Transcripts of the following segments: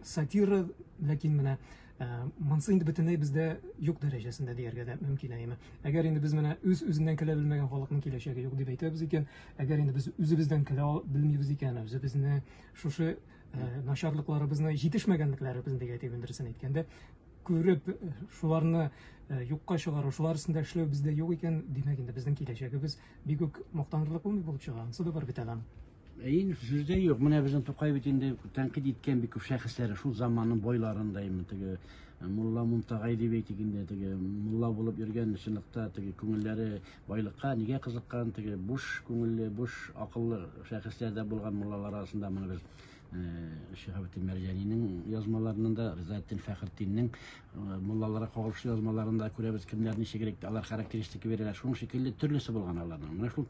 Сатира, ләкин менә э, монсы инде бөтенләй бездә юк дәрәҗәсендә дияргә дә мөмкин әйме. Әгәр инде без менә үз үзеннән көлә белмәгән халыкның киләчәге юк дип әйтәбез икән, әгәр инде без үзебездән көлә белмибез икән, үзебезне шушы э, начарлыкларыбызны җитешмәгәнлекләребезне дип әйтеп индерсен әйткәндә, күреп э, шуларны э, юкка чыгару шулар өстендә эшләү бездә юк икән димәк инде безнең киләчәгебез бик үк мактанырлык булмый булып чыга анысы да бар бит әле Ин сүз дә юк. Менә безнең Тукай бит инде тәнкыйть иткән бик күп шәхесләре шул заманның бойларын да инде теге э, Мулла Мунтагай дип әйтик инде теге мулла булып йөргән чынлыкта теге күңелләре байлыкка нигә кызыккан теге буш күңелле, буш акыллы шәхесләр дә булган муллалар арасында моны без э, Шиһабетдин Мәрҗәнинең язмаларында да, Ризаэддин Фәхретдиннең э, муллаларга кагылышлы язмаларында күрәбез кемнәр ничегрәк алар характеристика бирәләр. Шуның шикелле төрлесе булган аларның. Менә шул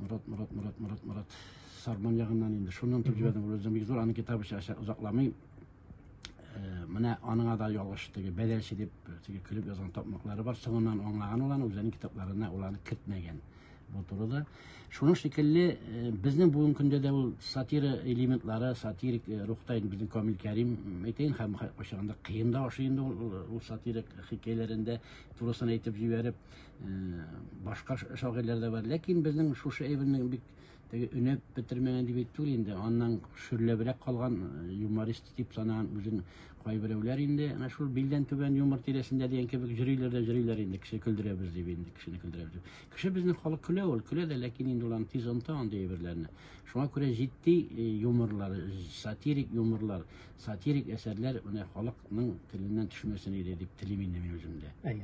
Мурат, Мурат, Мурат, Мурат, Мурат. Сарман ягыннан инде. Шуннан тып җибәрдем, Гүләзем бик зур, аны китап эчә озакламый. Э, менә аныңа да ялгыш теге бәдәлче дип теге көлеп язган тапмаклары бар. Соңыннан аңлаган ул аны үзенең китапларына ул аны кертмәгән. Бу турыда. Шуның шикелле э, безнең бүгенге көндә дә ул сатира элементлары, сатирик э, рухта инде безнең Камил Кәрим әйтәйен һәм кайчагында кыен да ашый инде ул сатирик хикәяләрендә турысын әйтеп җибәреп Башка шагыйрьләр дә бар, ләкин безнең шушы әйбернең бик теге өнәп бетермәгән дип әйтү инде, аннан шөрләбрәк калган э, юморист дип санаган үзен кайберәүләр инде, менә шул билдән түбән юмор тирәсендә дигән кебек җөрейләр дә җөрейләр инде, кеше көлдерәбез дип инде, кешене көлдерәбез дип. Кеше безнең халык көлә ул, көлә дә, ләкин инде улан тиз онта андый әйберләрне. Шуңа күрә җитди э, юморлар, сатирик юморлар, сатирик әсәрләр менә халыкның теленнән төшмәсен иде дип телим инде мин үземдә.